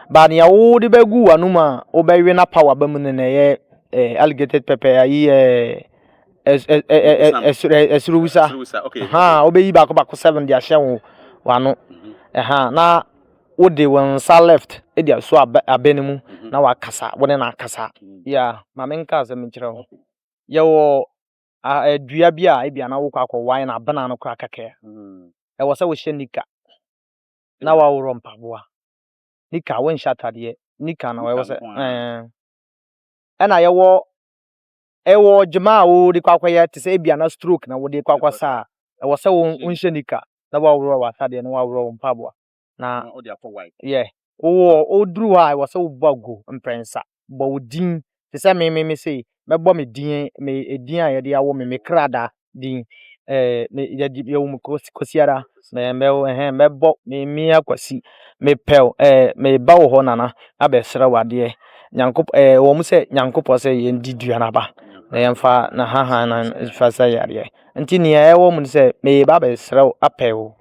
But nea wode bɛgu w'anom a wobɛwe no apa w'aba mu no na ɛyɛ eh, alligated pepper ayi eh, ɛs- ɛ- ɛ- ɛ- ɛ- ɛsoro ɛ- ɛsoro wusa Ɛsoro wusa, okay. ha wobɛyi baako baako seven de ahyɛ wo w'ano Mhm. ɛha na wode wo nsa left de aso abɛ abɛ no mu Mhm. na wakasa wo ne no akasa Mhm. ya ma menka asɛm nkyerɛ wo yɛwɔ a dua bi a ebia na wokɔ akɔwae na abena no kora kɛkɛ a, mm. ɛwɔ sɛ wohyɛ nika na waworɔ mpaboa. Nika wonhyɛ atadeɛ. Nika no ɛwɔ sɛ ɛna yɛwɔ ɛwɔ gyema a wode kɔ akɔyɛ te sɛ ebia na stroke na wode kɔ akɔsa a ɛwɔ sɛ wonhyɛ nika na waworɔ w'atadeɛ na waworɔ wo mpaboa. na wode akɔ wae. Yɛ, wowɔ, woduru hɔ a ɛwɔ sɛ wobɔ agu mprɛnsa. Bɔ wo din. Te sɛ me, me, me sei, mɛbɔ me din, me, edin a yɛde awo me, me krada din. Ɛɛ, me, yɛde, yɛwo me Kwasi, Kwasi ara. Mɛ, mɛ, ɛhɛn, mɛbɔ, me, Mia Kwasi, mepɛ wo, ɛɛ, meba wo hɔ, Nana, abɛsrɛ wo adeɛ. Nyankopɔ, ɛɛ, ɛwɔ mu sɛ Nyankopɔ sɛ yɛndi dua no aba, na yɛmfa na hahan no mfa sɛ yɛ adeɛ. Nti nea ɛwɔ mu ne sɛ, meba abɛsrɛ wo, apɛ wo.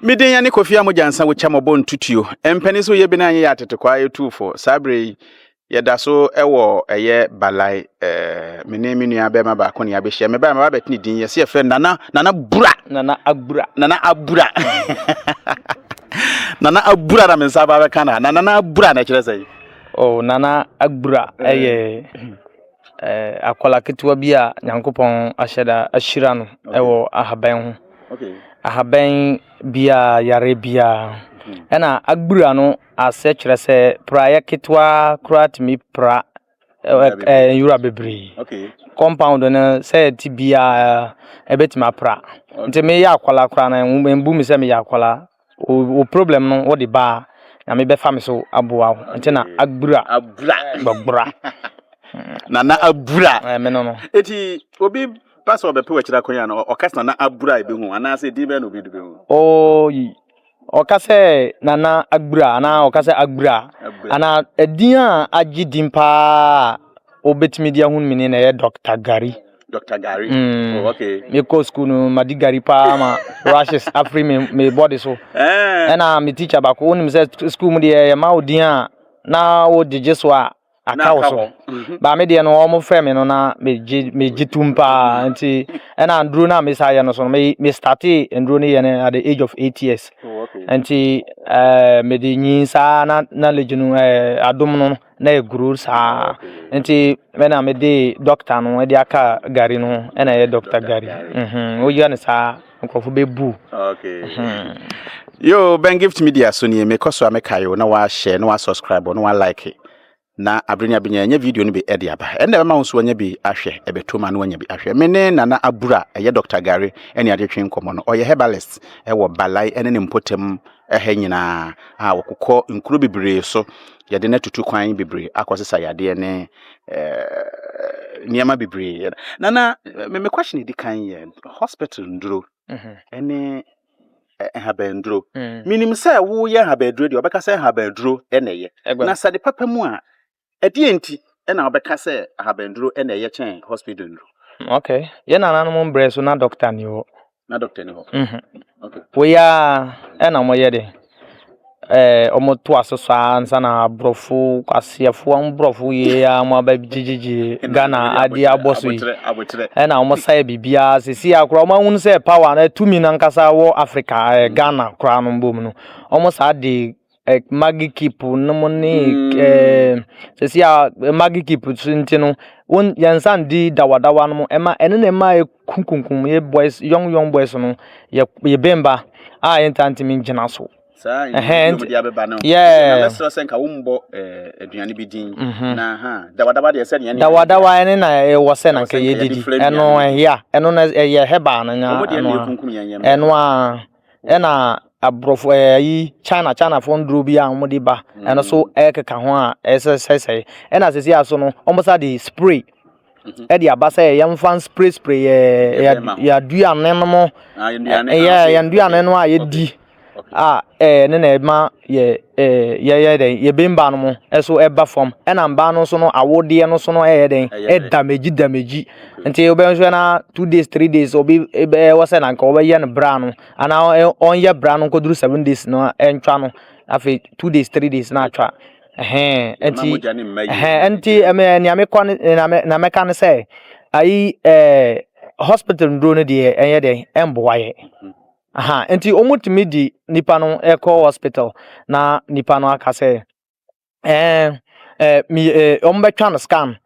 mede yɛne kofi a mogya nsa wokya mɔbɔ ntutuo mpɛne sɛ woyɛ bena yɛyɛ atetekwaa yɛtuufo saa berɛ yi yɛda so wɔ ɛyɛ balae ɛɛ me ne me nua bɛrima baako ne abɛhyia me baa me ba bɛtene din yɛsɛ yɛfrɛ nana nana bura nana abura nana abura nana abura na me nsa ba bɛka na na nana abura na ɛkyerɛ sɛ oh nana abura ɛyɛ eh. akwadaa ketewa bi a Nyankopɔn ahyɛ da ahyira no wɔ ahaban ho. Ahaban biara, yareɛ biara. Ɛna agbura no ase kyerɛ sɛ praeɛ ketewa koraa tumi pra nwura bebree. Compound no sɛ ɛte biara ɛbɛtumi apra. Nti meyɛ akwadaa koraa no, mbu me sɛ meyɛ akwadaa. Wo problem no wo de baa nyame bɛfa me so aboa wo nti na abura abura gbɔgbora nana abura ɛɛ me no no eti obi ba sɛ ɔbɛpɛ wɔ akyiri akɔnya no ɔka sɛ nana abura ebi hu anaasɛ din bɛn na obi de bɛhu oo yi ɔka sɛ nana abura anaa ɔka sɛ abura anaa ɛdin a agye din paa obetumi de ahun mini na ɛyɛ dɔkta gari. Dr. Gary. Mm. Oh, okay. Me ko school no ma di Gary pa ma rashes afri me me body so. Eh. And I'm a teacher ba ko onim say school mu de e ma odin a na wo jeje so a aka wo so. Ba me de no o mo frɛ me no na me je me je tum pa nti and I'm nduro na me sa ye no so me me started nduro ne ye at the age of 8 years. Oh, okay. Nti eh me de nyin sa na na legend eh adom no. na ɛguru saa nti me na me de dɔkta no ɛde aka gari no ɛna ɛyɛ dɔkta gari mhm woyɛ no saa nkurɔfo bɛ bu. Mhm. yo ben gift media so nie mekɔ so a meka yo na wahyɛ na wasubscribe na walike na abere ne abenya ɛnyɛ video no bi ɛde aba ɛnna ɛbɛma wo nso wanya bi ahwɛ ɛbɛto ma na wanya bi ahwɛ me ne nana abura ɛyɛ dɔkta gari ɛne adetwe nkɔmmɔ no ɔyɛ herbalist ɛwɔ balai ɛne ne mpɔtam ha nyinaa a wɔkokɔ nkuro bebree so, yɛde no atutu kwan bebree akɔsesa yadeɛ ne eh, nneɛma bebree. Na na me, me question di kan yɛ hospital nduro mhm. ne eh, nhabanduro. Mm. Menim sɛ woyɛ nhabanduro deɛ wɔbɛka sɛ nhabanduro na ɛyɛ. Na sɛ de papa mu a Ɛdeɛn nti na wobɛka sɛ ahabanduro na ɛyɛ kyɛn hospital nnuro? Ok, yɛn nananom mbrɛ so na doctor ni hɔ. Na doctor ni hɔ. Mhm. Ok. Wei ara ɛna wɔyɛ de ɛɛ wɔn to aso saa ansa na aborɔfo aseɛfo aborɔfo yie a wɔn aba gyegyegye ghana adeɛ abɔ so yi Abokyerɛ, abokyerɛ. ɛna wɔn sa yɛ biribiara sisi akora wɔn ahun sɛ power na tumi nankasa wɔ africa ɛɛ ghana koraa no mbom no wɔn saa de eh, magi keep nom ne mm. eh, sɛsi a eh, magi keep so nti no wɔn yɛn nsa ndi dawadawa nom ɛma ɛne na ɛma ekunkunkum yɛ boys young young boys no yɛ yɛ bɛnba a yɛn ta ntumi gyina so. saa ɛhɛn ti yɛɛ na sɛ nka wɔn bɔ eh, aduane bi din mhm. na ha dawadawa deɛ sɛ deɛ dawadawa ɛne na ɛwɔ sɛ na nka yɛ didi ɛno ɛhia ɛno na ɛyɛ hɛbaa no nya ɛno a ɛno a. ɛna aborɔfo ɛɛ ayi china chinafoɔ nnuro bi a wɔde ba ɛno so ɛkeka ho a ɛsɛsɛsɛe ɛna sisi aso no wɔn sa de spray ɛde mhm. aba sɛ yɛn fa spray spray yɛ yɛ aduane no mo ah, yɛ yɛn aduane no a yɛdi a ɛɛ ne na ɛma. yɛ ɛɛ yɛyɛ dɛn yɛbue mmaa no mu nso ɛba fam ɛna mmaa no nso no awodeɛ no nso no ɛyɛ dɛn ɛdamegyi damegyi nti wobɛhwɛ no ara two days three days obi bɛyɛ wɔ sɛ na nka wɔbɛyɛ no bra no anaa ɔnyɛ bra no nkɔduru seven days no a ɛntwa no afei two days three days na atwa ɛhɛn ɛnti ɛhɛn ɛnti ɛmɛ nea mekɔ no nea mɛ nea mɛka no sɛ ayi ɛɛ hospital nnuro no deɛ ɛnyɛ dɛn ɛmboa yɛ. Aha, nti wɔtumi di nipa no kɔ hospital na nipa no aka sɛ ɛɛ ɛɛ mi ɛɛ wɔbɛtwa no scan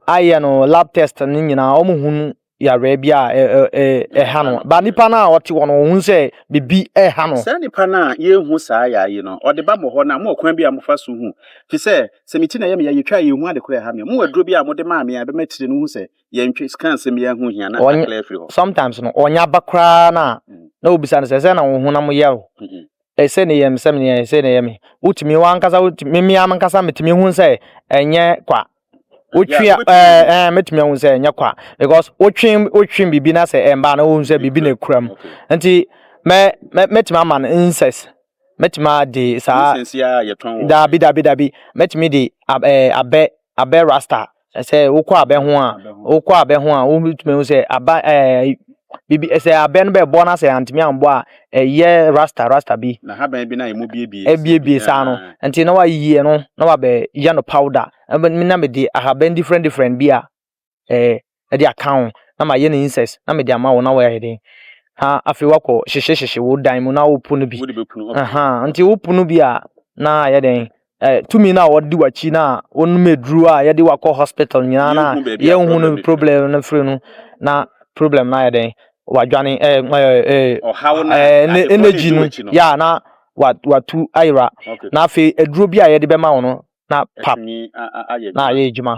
ayɛ no lab test ne nyinaa wɔhunu yareɛ bi a ɛɛ ɛɛ ɛha no ba nipa no a ɔte hɔ no wɔhunu sɛ biribi ɛha no. saa nipa no a yɛhu saa yare yi no ɔde ba mo hɔ no a mowɔ kwan bi a mofa so hu fi sɛ sɛ me ti na ɛyɛ me yɛ yɛtwa a yɛhu ade korɔ ɛha me a mowɔ aduro bi a mode maa me a ɛbɛma tire no hu sɛ yɛntwe sika nsɛm yi ho hia na akla afiri hɔ sometimes no ɔnyɛ aba koraa no a mm. na wobisa no sɛ sɛ na wo honam yɛ o mm-hmm. ɛsɛ ne yɛ me sɛ meneɛ ɛsɛ ne yɛ me wotumi wankasa memea menkasa metumi hu sɛ ɛnyɛ kwa wotwe mɛtumi ahu sɛ ɛnyɛ kwa because wotwe wotwe biribi na sɛ ɛmbaa na wohu sɛ biribi na ɛkura mu nti mɛtumi ama no incest mɛtumi ade saa daabi daabi daabi mɛtumi de abɛ abɛ rasta sɛ wokɔ abɛ ho a wokɔ abɛ ho a wobɛtumi ahu sɛ aba ɛɛ bibi sɛ abɛ no bɛbɔ na sɛ antumi ambɔ a ɛyɛ rasta rasta bi na haban bi na ɛmu biebie ɛbiebie saa no nti na wayiyi ɛno na wabɛyɛ no powder na mede ahaban different different bi a ɛɛ ɛde aka ho na mayɛ no insect na mede ama wo na woayɛ dɛn na afei woakɔ hyehye hyehye wo dan mu na wopo no bi ɛhaa nti wopo no bi a na ayɛ dɛn ɛɛ tumi no a wɔde w'akyi no a wonom aduro a yɛde wakɔ hospital nyinaa na yɛnhu no problem no firi no na problem no ayɛ dɛn wadwane ɛɛ ɛɛ ɛɛ energy no yɛ na watu ayera na afei aduro bi a yɛde bɛma wo no na pap na ayɛ adwuma.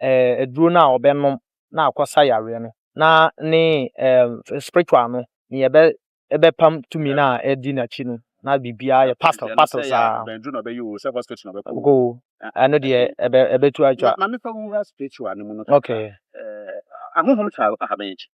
eh, aduro no a ɔbɛnom na akɔsa yareɛ no na ne eh, spiritual no ne yɛbɛ ɛbɛpam tumi no a ɛdi n'akyi no na biribiara yɛ pastel pastel saa go ɛno deɛ ɛbɛtu atwa okay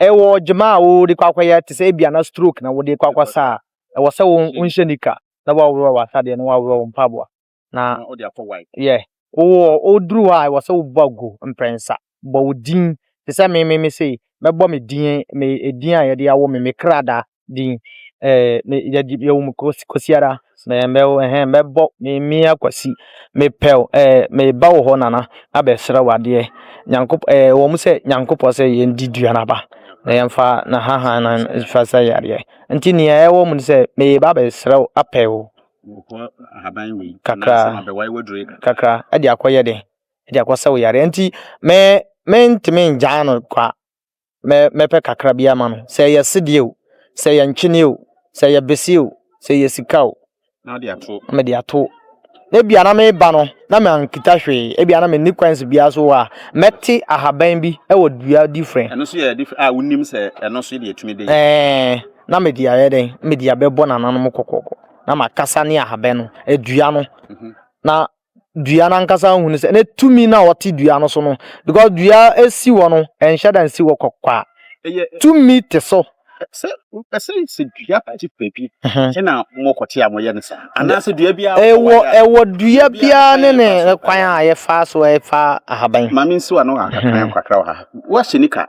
ɛwɔ dwuma a wode kɔ akɔyɛ te sɛ ebia na stroke na wode kɔ akɔsa a ɛwɔ sɛ wo nhyɛ nika na waworɔ w'asadeɛ na waworɔ wo mpaboa na yɛ wowɔ woduru hɔ a ɛwɔ sɛ wobɔ agu mprɛnsa bɔ wo din te sɛ me me me sei mɛbɔ me din me edin a yɛde awo me me kradaa din eh, me yɛ di yɛ wum kosi kosi ara me me ɛhɛn me bɔ me mia kwasi me pɛw eh me ba wɔ hɔ nana abɛsrɛ wadeɛ nyankop eh wɔn sɛ nyankopɔ sɛ yɛn di dua naba na yɛn fa na haha na fa sɛ yadeɛ nti nea ɛwɔ mu sɛ me ba abɛsrɛ apɛw kakra kakra ɛde akɔyɛ de ɛde akɔsɛ wo yadeɛ nti me me ntumi ngyaa no kwa. mɛ mɛpɛ kakra bi ama no, sɛ ɛyɛ sedeɛ o, sɛ ɛyɛ ntweneɛ o, sɛ ɛyɛ beseɛ o, sɛ ɛyɛ sika o. Na wode ato. Na mede ato. Na ebia na mereba no, na mankita hwee, ebia na menni kwansi biara so a, mɛte ahaban bi wɔ dua difirɛ. Ɛno nso yɛ difirɛ a wonim sɛ ɛno nso deɛ ɛtumi bɛyɛ. Ɛɛ, na mede ayɛ dɛn? Mede abɛbɔ n'ananom kɔkɔɔkɔ, na makasa ne ahaban no, dua no, na dua no ankasa hunu sɛ ne tumi no a ɔte dua no so no because dua esi hɔ no ɛnhyɛ da nsi hɔ kɔkɔa tumi te so. sɛ wopɛ sɛ sɛ dua particular bi ɛna mokɔte a moyɛ no saa anaasɛ dua biara ɛwɔ ɛwɔ dua biara ne ne kwan a yɛfa so ɛfa ahaban maame nsiwa no kakra kakra wɔ ha woahyɛ nika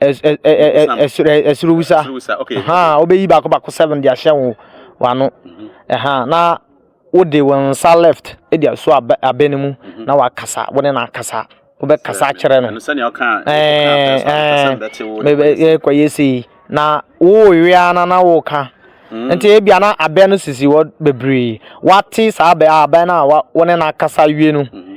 ɛsoro wusa wobɛyi baako baako seven de ahyɛ wo wano mhm. na wode wo nsa left de aso abɛ no mu mhm. na wakasa wo ne no akasa wobɛkasa akyerɛ no kɔyɛ sei na wowewe a na na woka Mm. nti ebia na abɛn no sisi hɔ bebree wate saa abɛn abɛn no a wɔne no akasa wie no mm-hmm.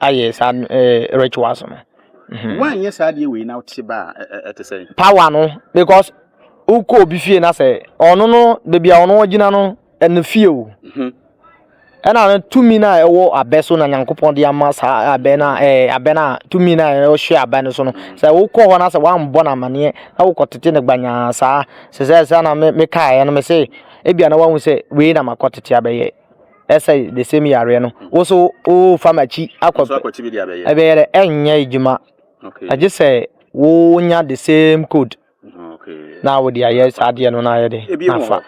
ayɛ saa ɛɛ rituals no. Mhm. Wanyɛ saa adeɛ wei na wote ba a ɛte sɛ. Power no because wokɔ obi fie na sɛ ɔno no beebi a ɔno gyina no ɛne fie o. Mhm. Ɛna no tumi no a ɛwɔ abɛ so na Nyankopɔn de ama saa abɛ no a ɛɛ abɛ no a tumi no a ɛhyɛ abɛ no so no mhm. sɛ wokɔ hɔ na sɛ woambɔ no amaneɛ na wokɔ tete no gbanyaa saa sɛ sɛ sɛ na mekaeɛ no me se ebia na woahu sɛ wei na makɔ tete abɛyɛ ɛsɛ the same yareɛ no wo so wofa makyi akɔ ɛbɛyɛ dɛ ɛnyɛ adwuma agye sɛ wonya the same code mm, na wode ayɛ saa adeɛ no na ayɛ de nafa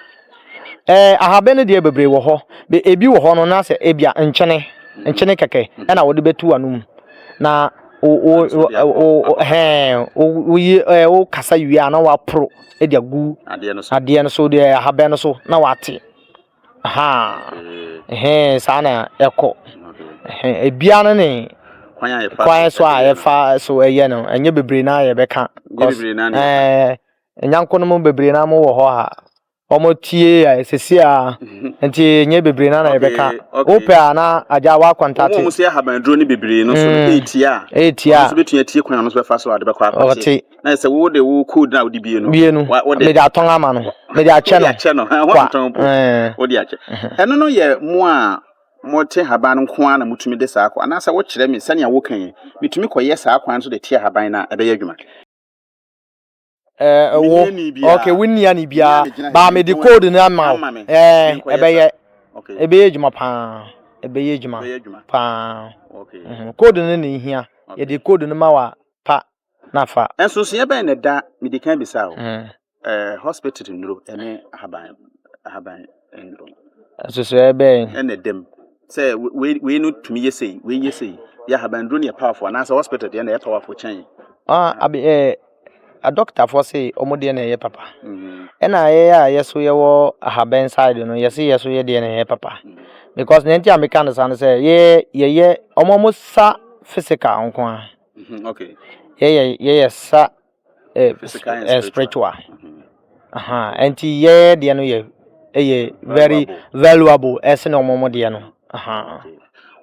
eh, ahabɛ no deɛ bebree wɔ hɔ ebi wɔ hɔ no na sɛ ebia nkyene mm-hmm. nkyene kɛkɛ mm-hmm. ɛna wode bɛtu ano mu na woyi wo kasa wie a na woaporo de agu adeɛ no so deɛ ahabɛ no so na woate Ahaa saa na ɛkɔ ebiara no ne kwan so a yɛfa so yɛ no ɛnyɛ bebree no ara na yɛbɛka ɛɛ nyanko no mu bebree no ara wɔwɔ hɔ a wɔtie a seesei ara nti ɛnyɛ bebree no ara na yɛbɛka wopɛ a na agya woakɔntate wɔn a wɔyɛ ahabanduro no bebree no nso retie a retie a wɔn nso bɛtumi atie kwan a wɔn nso bɛfa so a wɔde bɛkɔ akɔte. na sɛ wo de wo code na wode bie no bie no mede atɔn ama no mede akyɛ no akyɛ no ho atɔn po wode akyɛ ɛno no yɛ mo a mote haban nko ara na motumi de saa kɔ anaasɛ wokyerɛ me sɛnea woka yi metumi kɔyɛ saa kwan so de te haban no a ɛbɛyɛ adwuma ɛwɔ ok wonnia ne biara baa mede code no ama wo ɛbɛyɛ ɛbɛyɛ adwuma paa ɛbɛyɛ adwuma paa code no na ɛhia yɛde code no ma wa pa na fa. Nsonsonoeɛ bɛn na ɛda, mede kan bisaa wo, hospital nnuro ne ahaban ahaban nnuro no? Nsonsonoeɛ bɛn. Ɛna ɛda mu sɛ wei wei no tumi yɛ sei, wei yɛ sei, yɛ ahaban nnuro no yɛ powerful anaasɛ hospital deɛ na ɛyɛ powerful kyɛn. Ah, abi ɛɛ adɔktafoɔ se wɔn deɛ na ɛyɛ papa. Ɛna yɛ a yɛ so yɛwɔ ahaban side no yɛse yɛ so yɛ deɛ na ɛyɛ papa. Because nea nti a meka no saa no sɛ yɛ yɛyɛ wɔn wɔn sa physical nko ara. Mm-hmm, okay. Yɛyɛ yɛyɛ sa eh, physical and eh, spiritual. Mm-hmm. Uh-huh. Nti yɛyɛ deɛ no yɛ ɛyɛ very valuable ɛsɛ na ɔmo deɛ no. Uh-huh.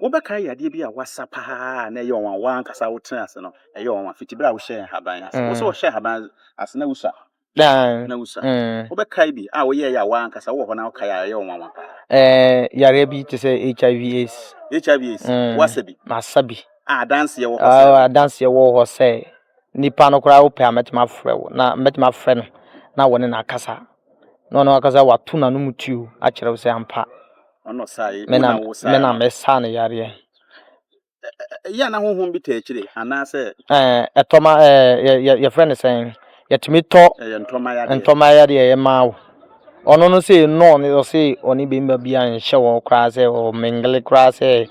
Wobɛka yɛ adeɛ bi a wasa paa na ɛyɛ ɔnwa wa ankasa wotena ase no ɛyɛ ɔnwa fiti bere a wohyɛ haban ase. Mm. Wosɛ wɔhyɛ haban ase na wosua Daa. Na wusa. Mm. Wobɛkae bi a woyɛe a w'ankasa wowɔ hɔ na wokae a ɛyɛ wo nwanwa paa? Eh, yareɛ bi te sɛ HIV AIDS. HIV AIDS? Mm. Woasa bi? Masa bi. A adanseɛ wɔ hɔ sɛ? Ah, adanseɛ wɔ hɔ sɛ nipa no koraa wopɛ a mɛtumi afrɛ wo na mɛtumi afrɛ no na wɔne no akasa na ɔno akasa wato n'anom tuo akyerɛ wo sɛ ampa. Ɔno ɔsae, wo na wosaa no? Me na mesaa no yareɛ. ɛyɛ a na honhom bi taa akyire anaasɛ. ɛtɔma yɛfrɛ no sɛn yɛtumi tɔ ntɔma yadeɛ yɛ maa wo ɔno no sɛ no ɔne ɔse ɔne bɛmba bi a nhyɛ wɔ koraa sɛ ɔ mengele koraa sɛ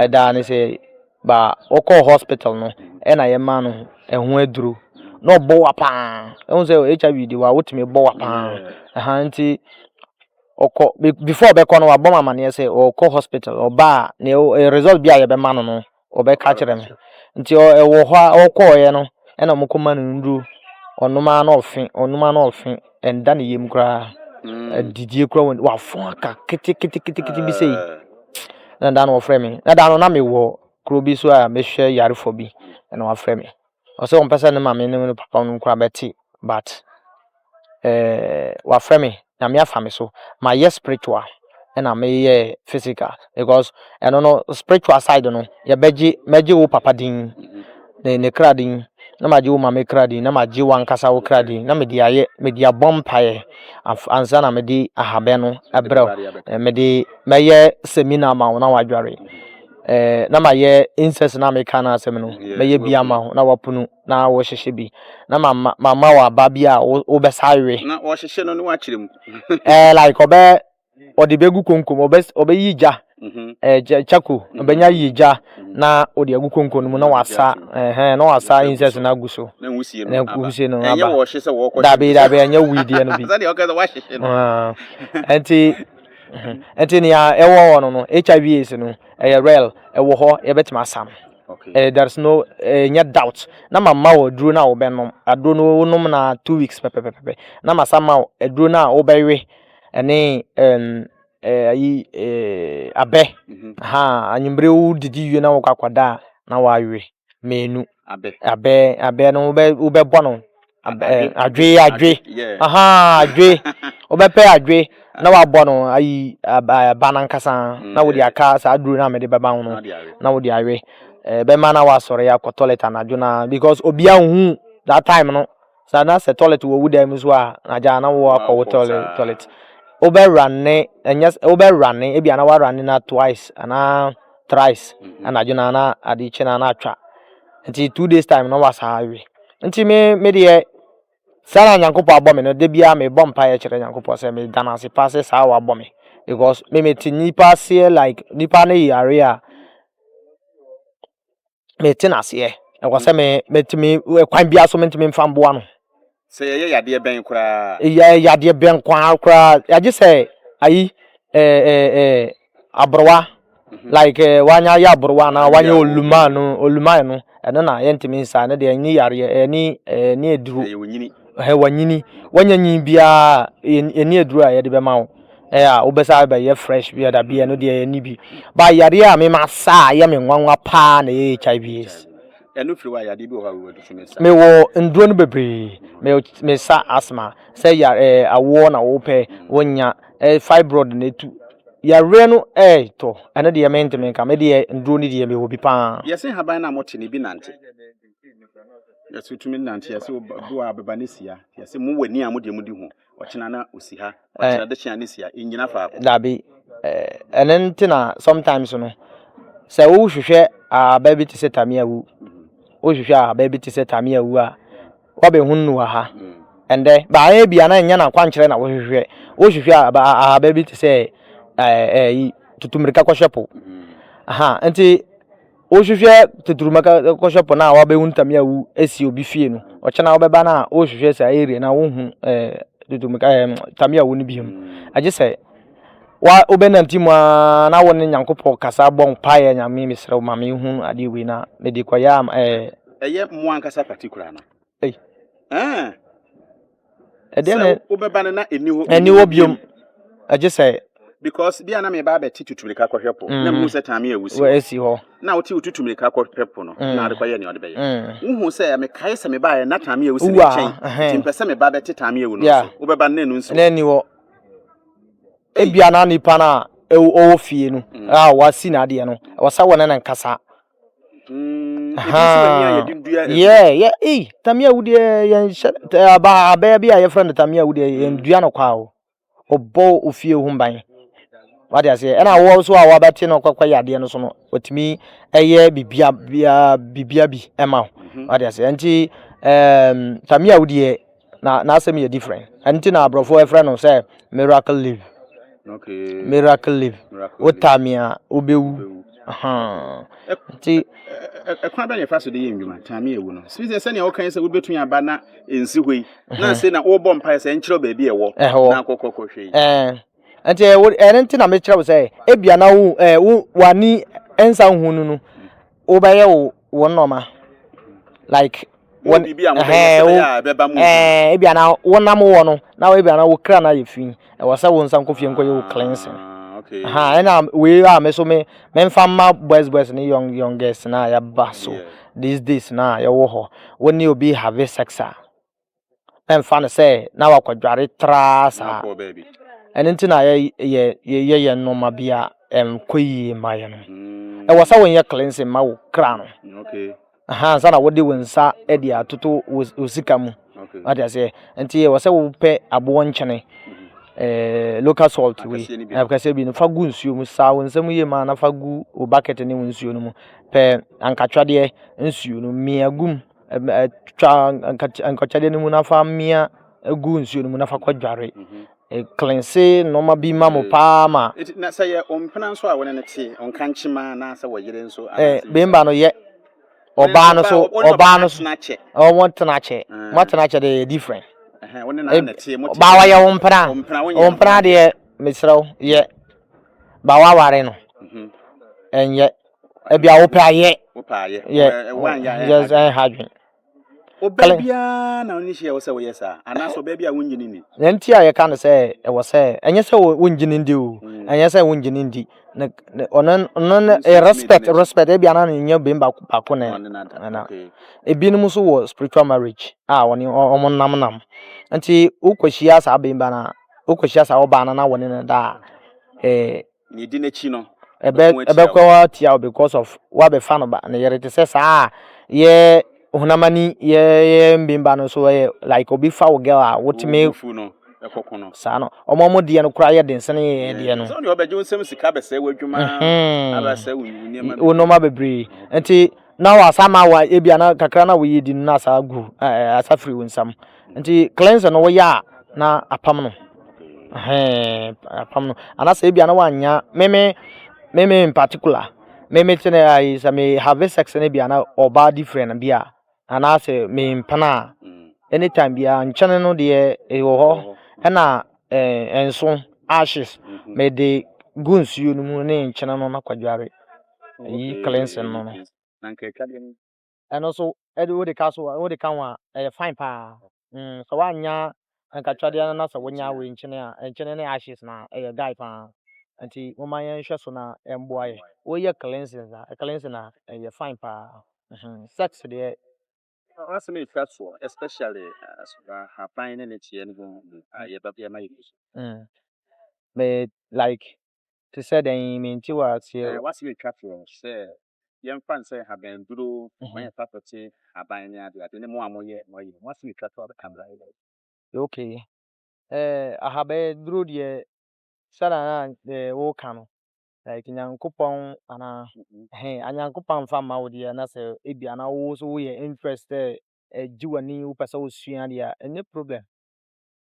ɛdaa ne sɛ ba ɔkɔɔ hospital no ɛna yɛ maa no ɛho aduro na ɔbɔ wa paa ɛhu sɛ hiv de wa wotumi bɔ wa paa ɛha nti ɔkɔ before ɔbɛkɔ no wabɔ me amaneɛ sɛ ɔkɔ hospital ɔba a ne result bi a yɛbɛma no no ɔbɛka kyerɛ me nti ɛwɔ hɔ a ɔkɔɔeɛ no ɛna ɔmo kɔma no nnuro ɔnom ara na ɔfe ɔnom ara na ɔfe ɛnda ne yam koraa mm. adidie koraa wɔn wafo aka keteketekete bi sɛyi ah. na da no wɔfrɛ me na da no na mewɔ kuro bi so a mehwɛ yarefo bi ɛna wafrɛ me ɔse ɔmpɛ sɛ ne maame ne ne papa nom koraa bɛte but eh wafrɛ me Nyame afa me so mayɛ spiritual ɛna meyɛɛ physical because ɛno no spiritual side no yɛbɛgye mɛgye wo papa din ne ne kra din na magye wo maame kra din na magye wankasa wo kra din na mede ayɛ mede abɔ mpaeɛ ansa na mede ahabɛn no ɛbrɛ wo mede mɛyɛ seminar ma wo na wadware eh, na mayɛ incest na meka no asɛm no mɛyɛ bi ama ho na wapunu na wɔhyehyɛ bi na mama mama waba bi a wobɛsa awe na wɔhyehyɛ no ne wakyerɛ mu eh, like ɔbɛ ɔde bɛgu konkom ɔbɛ ɔbɛyi gya mhm. eh, kyako mhm. ɔbɛnya yi gya mhm. na ɔde agu konkom no mu na wasa eh, na wasa incest no agu so na wusie no aba dabi dabi ɛnyɛ wuideɛ no bi ah. nti ɛnti mhm. nea ɛwɔ hɔ no no hiv aids no ɛyɛ real ɛwɔ hɔ yɛbɛtumi asa no eh, there is no ɛnyɛ eh, doubt na ma ma wɔ aduro no a wobɛnom aduro no wonom na two weeks pɛpɛpɛpɛ na ma sa ma wɔ aduro no a wobɛwe ɛne ɛm eh, ayi ɛɛ abɛ mhm. ha anwummere wo didi wie na wokɔ akɔda a na wawe mmienu. Abɛ. Abɛ abɛ no wobɛ wobɛbɔ no. Abɛ eh, adwe adwe. Aha adwe. Wobɛpɛ adwe na ah. wabɔ no ayi aba nankasa mm, na wode aka saa duro no a mede bɛba ho no na wode awe. Eh, bɛma na wasɔre akɔ toilet anadwo na because obiara nhu that time no. Saa na sɛ toilet wɔ wo dan mu nso a, na gyaa na wo akɔ wo toilet toilet. Wobɛ rane ɛnyɛ wobɛ rane ebi ana wa rane na twice ana thrice anadwo na na ade kye na na atwa. Nti two days time na wasa awe. Nti me me deɛ saa na Nyankopɔn abɔ me no da biara me bɔ mpaeɛ kyerɛ Nyankopɔn sɛ me da no ase paa sɛ saa a wabɔ me because me me te nipa aseɛ like nipa ne yare a mete no aseɛ. Ɛwɔ sɛ me metumi kwan biara so mentumi mfa mboa no. Sɛ yɛyɛ yadeɛ bɛn koraa. Yɛ yadeɛ bɛn koraa koraa agye sɛ ayi ɛɛ ɛɛ aborowa like wanya ayɛ aborowa anaa wanya olumaa no olumaa no ɛno na yɛntumi nsa ɛno deɛ ɛni yareɛ ɛni ɛni aduro. Ɛyɛ onyini. hɛ wanyini wanya nyin biara ɛni aduru a yɛde bɛma wo ɛyɛ a wobɛsa bɛyɛ fresh bi ɛda bi ɛno deɛ ɛni bi ba yadeɛ a mema saa yɛ me nwanwa paa na ɛyɛ hiv aids ɛno firi hɔ a yadeɛ bi wɔ hɔ a wowɔ dusu me sa mewɔ nduro no bebree me sa asthma sɛ ya ɛɛ awoɔ na wopɛ wonya ɛɛ fibroid na ɛtu yareɛ no ɛɛtɔ ɛno deɛ mentumi nka me deɛ nduro no deɛ mewɔ bi paa yɛse haban no a mote no bi nante Yɛse wotumi nante yɛse bo a bɛba ne sia yɛse mo w'ani a mo deɛ mo di ho ɔkyena na osi ha ɔkyena eh. de kyena ne sia ɛnyina faako. Dabi ɛne eh, nti na sometimes no sɛ wohwehwɛ aba bi te sɛ tame awu wohwehwɛ aba bi te sɛ tame awu a wabɛhu no wɔ ha ɛndɛ mm. baayɛ bia na ɛnyɛ no akwankyerɛ na wohwehwɛ wohwehwɛ aba bi te sɛ ɛyi eh, eh, tutumirika kɔhwɛ po mm. aha nti Wohwehwɛ tetruma ka kɔhwɛ pɔn a wabehu ntame a wu esi obi fie no. Ɔkyɛ na wobɛba na wohwehwɛ saa area na wohu eh tetruma ka eh ntame a wu no biom. Agye sɛ wa wobɛnante mu a na wo ne Nyankopɔn kasa bɔ mpaeɛ Nyame mesrɛ wo ma me hu adeɛ wei na mede kɔyɛ a eh. Ɛyɛ mo ankasa particular no. Ei. Eh. ɛdeɛ na wobɛba no na ɛni hɔ ɛni hɔ biom ɛgye sɛ because bia na meba abɛte tutumirika kɔhwɛ po na mu sɛ taame awusi ɛsi hɔ na wote wo tutumirika kɔhwɛ po no na ade kɔyɛ nea ɔde bɛyɛ wohu sɛ mekae sɛ mebaeɛ na taame awusi ne kyɛn nti mpɛ sɛ meba bɛte taame awu no so wobɛba no na ɛnu nsi ɛni hɔ ebia na nipa no a ɔwɔ fie no a wasi n'adeɛ no wɔsa wɔ ne ne nkasa Mm, ha, yeah, yeah, ei, Tamia wudeɛ yɛn hyɛ aba abɛɛ bi a yɛfrɛ no Tamia wudeɛ yɛn dua no kwa o, ɔbɔ ofie ho ban. Wade aseɛ, ɛna awɔ nso a wabɛte no kɔkɔ yɛ adeɛ no so no, ɔtumi ɛyɛ bibia bia bibia bi ɛma o. Wade aseɛ, nti ɛɛm Tamia wudeɛ na n'asɛm yɛ different ɛno nti na aborɔfo ɛfrɛ no sɛ miracle leaf okay. miracle leaf wota me a wobɛwu nti ɛkwan bɛ na ɛfa so de yɛ nnwuma tame ɛwu no sɛ sɛ sɛnea wokan sɛ wobɛtumi aba na ɛnsi hɔ yi na sɛ na wobɔ mpae sɛ nkyerɛ baabi ɛwɔ na akɔkɔkɔhwɛ yi nti ɛno nti na mekyerɛ wo sɛ ebia na wo w'ani ɛnsa nhu no no wobɛyɛ wo wo nɔɔma like wɔn ɛɛ ebi ana wonam wɔ no na ebi ana wo kra na yɛ fi ɛwɔ sɛ wo nsa nkɔ fie nkɔ yɛ wo cleansing ɛha ɛna wei a me so me me nfa mma boys boys ne young young girls na yɛba so these days na yɛwɔ hɔ wɔn ne obi have sex a. ɛmfa no sɛ na wakɔdware traa saa. Ɛno nti na yɛyɛ yɛn nnoɔma bi a ɛnkɔ yie mma yɛn no. Hmm. Ɛwɔ sɛ wonyɛ cleansing ma wo kra no. Ansa na wode wo nsa de atoto wo sika mu. Wate aseɛ. Nti ɛwɔ sɛ wopɛ aboɔ nkyene eh, local salt wei akɛseɛ bi no fa gu nsuo mu saa wo nsam yie ma na fa gu wo bucket ne wo nsuo no mu pɛ ankatwadeɛ nsuo no mia gum Twa nkotɔkyɛde no mu na fa mmea gu nsuo no mu na fa kɔdware. Mhm. Ɛklense nneɛma bi ma mo paa ma. Eti na sɛ yɛ ɔmpena nso a wɔne no te, ɔnka nkyema anaasɛ wɔyere nso. Ɛɛ bɛmba no yɛ. Ɔbaa no so ɔbaa no so. Wɔn tena akyɛ. Wɔn ah. tena akyɛ deɛ yɛ different. Wɔn ne nan na tie mo. Ɔbaa wɔyɛ ɔmpena. Ɔmpena deɛ mesrɛw yɛ. Ba waware no. Mhm. Ɛnyɛ. ebi a wopɛ ayɛ wopɛ ayɛ yɛ yɛ ha adwene ɔbaa biara na ɔne hyia wɔ sɛ wɔyɛ saa anaasɛ ɔbaa bi a wonyi ne ni na nti a yɛka no sɛ ɛwɔ sɛ ɛnyɛ sɛ wonyi ne ndi o mm. ɛnyɛ sɛ wonyi ne ndi na ɔno ɔno no eh, respect respect ebi anan ne nyɛ bɛn baako baako na ɛna ebinom nso wɔ spiritual marriage a ah, wɔne wɔn nam nam nti wokɔhyia saa bɛn ba na wokɔhyia saa ɔbaa no na wɔne no daa ɛɛ. Eh, Nea edi n'akyi no Ɛbɛ bɛko atia ɛbɛko wo. ara tia wo because of wabɛfa no ba ne yere te sɛ saa a yɛ honam ani yɛ yɛ mben ba no so ɛyɛ like obi fa wo girl a Wo wo wotumi bo fu no, ɛkɔ ko no. saa no ɔmo ɔmo deɛ no koraa yɛ den sene yɛ yɛ deɛ no Sɛ wo deɛ ɔbɛgye wo nsam sika abɛsɛe w'adwuma, ɛhɛn abɛsɛe wo wo nneɛma wo bebree. nnoɔma bebree nti. na wasa ma wa ebi ana kakra na wɔyɛ di no na asa gu ɛɛ asa firi wɔn nsam nti cleanse no wɔyɛ a na apam no hɛn apam no anasa ebi ana wanya meme meme in particular meme te na ayi sɛ me have sex no bi ana ɔbaa different bi a anaasɛ me mpana a anytime bi a nkyɛn no deɛ ɛwɔ hɔ ɛna ɛɛ nso ashes me de gu nsuo no mu ne nkyɛn no na kwadware. ɛyi cleansing no no ɛno nso ɛde wode ka so wode ka ho a ɛyɛ fine paa mm sɛ woanya nkatwadeɛ no na sɛ wonya wei nkyene a nkyene ne ashes na ɛyɛ guy paa nti momma yɛnhwɛ so na ɛmboa yɛ woyɛ cleansing a cleansing a ɛyɛ fine paa sex deɛ asɛm ɛtwa soɔ especially haban ne ne kyeɛ no ho yɛbɛbɛma yɛ so me like te sɛ dɛn? Mente wo aseɛ o. W'asɛm twa toɔ sɛ yɛmfa nsɛ nhaban duro, ma yɛmfa tɔkye haban ne ade ade ne mo a moyɛ mo ayi no, mo asɛm twa toɔ bɛka mmra yɛ dɛn? Ok, ahaban duro deɛ sɛdeɛ na eh woka no like Nyankopɔn anaa? Ɛhɛn, a Nyankopɔn amfa amma wo deɛ na sɛ ebia na wo nso woyɛ interest sɛ ɛgye w'ani wopɛ sɛ wosua deɛ a ɛnyɛ problem.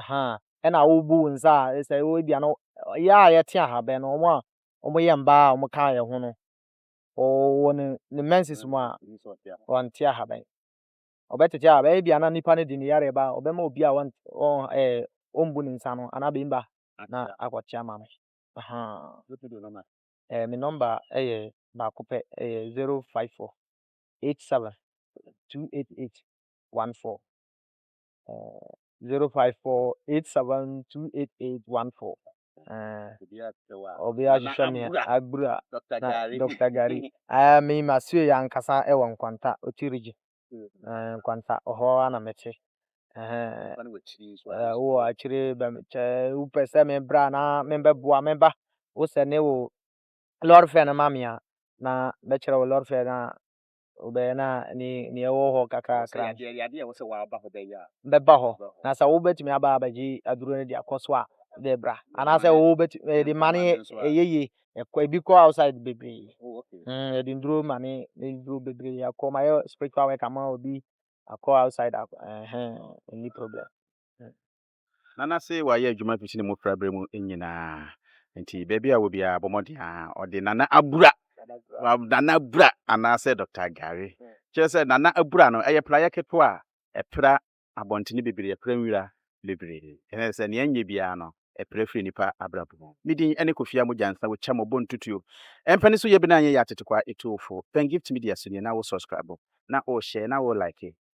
ahaa, ɛna wobu wo nsa a sɛ wo ebia no yɛ a yɛte ahabɛn no wɔn a wɔyɛ mbaa a wɔka yɛn ho no wɔwɔ ne ne menses mu a wɔnte ahabɛn ɔbɛtete a bɛyɛ bia na nipa no de ne yare ba ɔbɛma obi a wɔn wɔn ɛɛ wɔmbu ne nsa no anaa bɛmba na akɔte ama no ahaa ɛɛ me nɔmba ɛyɛ baako pɛ ɛyɛ zero five four eight seven two eight eight one four. zero five four eight seven two eight eight one four. obi ahwehwɛ me agbura na dr gari ɛɛ me ma sue yɛ ankasa ɛwɔ nkwanta oti rigye ɛɛ nkwanta ɔhɔ ara na mete ɛɛ wowɔ akyire bɛ kyɛ wopɛ sɛ me bra na me bɛ boa me ba wosɛ ne wo lɔre fɛ no ma me a na bɛkyerɛ wo lɔre fɛ na wobɛyɛ na ne nea ɛwɔ hɔ kakrakra no. Ɛyɛ adeɛ a ɛwɔ sɛ waba hɔ bɛyɛ a. Bɛba hɔ na sɛ wobɛtumi aba abɛgye aduro no de akɔ so a de bra anaasɛ wobɛtumi yɛde ma ne ɛyɛ yie ɛkɔ ebi kɔ outside bebree yɛde nduro ma ne ne duro bebree akɔ ma yɛ spiritual work ama obi akɔ outside ɛhɛn ɛni problem. Ná n'ase wayɛ adwuma fi ne mmofraberɛ mu nyinaa, enti baabi a ɔwɔ biara bɔ mmɔden ara ɔde Nana abura, Nana abura anaasɛ Dɔkta Gari. Kyerɛ sɛ, Nana abura no, ɛyɛ praeɛ ketewa a ɛpra abɔntene bebree, ɛpra nwira bebree. Ɛne sɛ, nea ɛnyɛ biara no, ɛpra firi nnipa abrabɔ mu. Me din ne Kofi Amogya Nsa wo kyɛ mo bo ntutuo. Ɛmpɛ ne so yɛ bi na anyɛ yɛ atetekwaa etuofo. Pɛn Gift Media so nie na wo sɔskraibo, na wo hyɛɛ, na wo laeke.